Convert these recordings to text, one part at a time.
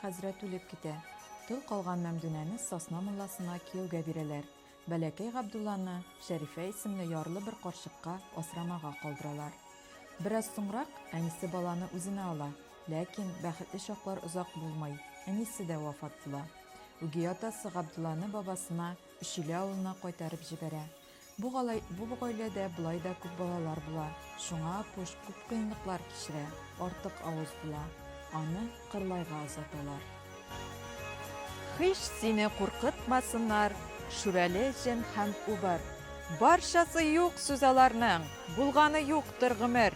Хәзрәт үлеп китә. Тол калган Мәмдүнәне Сасна мулласына кияүгә бирәләр. Бәләкәй Габдулланы, Шәрифә исемле ярлы бер карчыкка асрамага калдыралар. Бераз соңрак әнисе баланы үзенә ала. Ләкин бәхетле чаклар озак булмый, әнисе дә вафат була. Үги атасы Габдулланы бабасына, Өчиле авылына кайтарып җибәрә. Бу алай, бу гаиләдә болай да күп балалар була, шуңа Апуш күп кыенлыклар кичерә, артык авыз була. Аны Кырлайга озаталар. Һич сине куркытмасыннар, Шүрәле, Җен һәм Убыр. Барчасы юк сүз аларның, булганы юктыр гомер.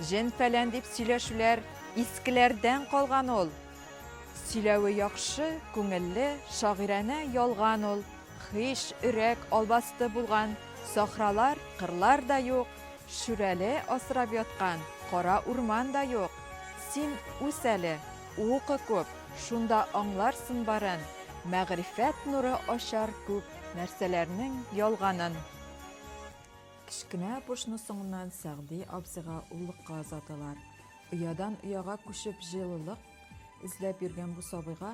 Җен-фәлән дип сөйләшүләр искеләрдән калган ул. Сөйләве яхшы, күңелле, шагыйранә ялган ул. Хиш, өрәк, албасты булган, сахралар, кырлар да юк, шүрәле асрап яткан, кара урман да юк. Син үс әле, укы күп, шунда аңларсын барын, мәгърифәт нуры ачар күп нәрсәләрнең ялганын. Кечкенә пошны соңыннан Сәгъди абзыйга уллыкка озаталар. Оядан ояга күчеп җылылык эзләп йөргән бу сабыйга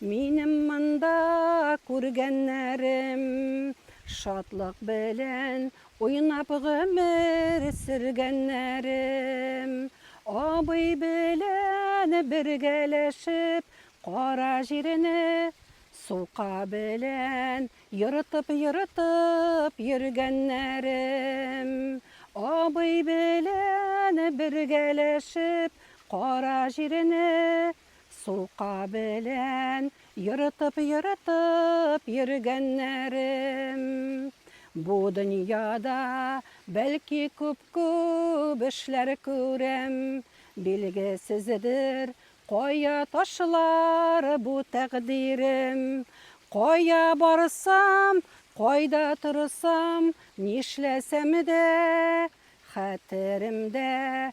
Минем монда күргәннәрем Шатлык белән уйнап гомер сөргәннәрем Абый белән бергәләшеп Кара җирне сука белән Ерытып-ерытып йөргәннәрем Абый белән бергәләшеп Кара җирне Сумка белән ерытып-ерытып йөргәннәрем. Бу дөньяда, бәлки, күп-күп эшләр күрәм. Билгесездер, кая ташлар бу тәкъдирем. Кая барсам, кайда торсам, нишләсәм дә, хәтеремдә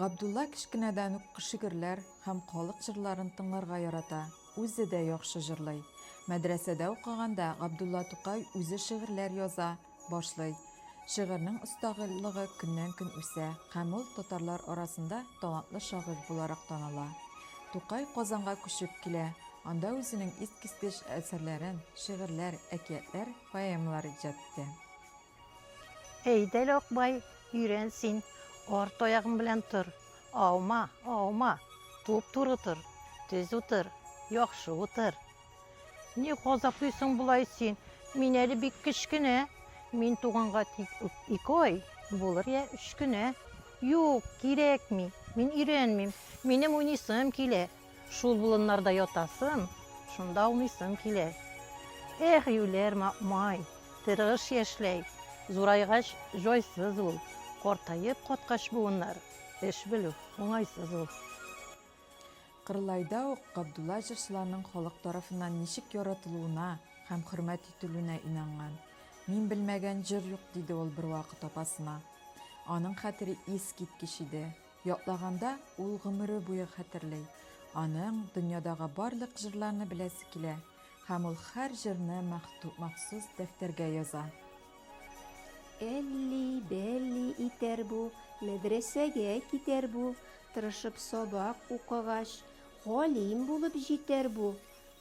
Габдулла кечкенәдән үк шигырьләр һәм халык җырларын тыңларга ярата, үзе дә яхшы җырлый. Мәдрәсәдә укыганда Габдулла Тукай үзе шигырьләр яза башлый. Шигырьнең осталыгы көннән-көн үсә һәм ул татарлар арасында талантлы шагыйрь буларак таныла. Тукай Казанга күчеп килә, анда үзенең искиткеч әсәрләрен, шигырьләр, әкиятләр, поэмалар иҗат итә. Әйдә әле, Акбай, өйрән син, арт аягың белән тор. Аума, аума, туп-туры тор, тез утыр, яхшы утыр. Ни газаплыйсың болай син? Мин әле бик кечкенә. Мин туганга тик ике ай, булыр я өч кенә. Юк, кирәкми, мин өйрәнмим. Минем уйныйсым килә, Шул болыннарда ятасым, шунда аунысым килә. Эх, юләр май, тырыш яшьләй, зурайгач җайсыз ул, картаеп каткач буыннар, эш белү уңайсыз ул. Кырлайда ук Габдулла җырчыларның халык тарафыннан ничек яратылуына һәм хөрмәт ителүенә инанган. Мин белмәгән җыр юк, диде ул бервакыт апасына. Аның хәтере искиткеч иде. Ятлаганда, ул гомере буе хәтерли. Аның дөньядагы барлык җырларны беләсе килә, һәм ул һәр җырны махсус дәфтәргә яза. Әлли-бәлли итәр бу, мәдрәсәгә китәр бу, тырышып сабак укыгач, галим булып җитәр бу.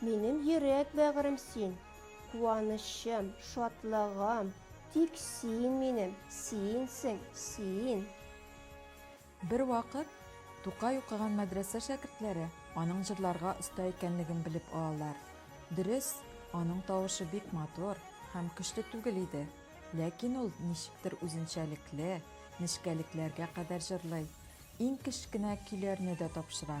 Минем йөрәк бәгырем син, Куанычым, шатлыгым, Тик син минем, синсең, син. Бервакыт Тукай укыган мәдрәсә шәкертләре аның җырларга оста икәнлеген белеп алалар. Дөрес, аның тавышы бик матур һәм көчле түгел иде, ләкин ул ничектер үзенчәлекле, нечкәлекләргә кадәр җырлый, иң кечкенә көйләрне дә тапшыра.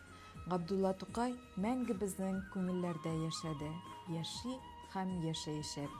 Габдулла Тукай мәңге безнең күңелләрдә яшәде, яши һәм яшәячәк.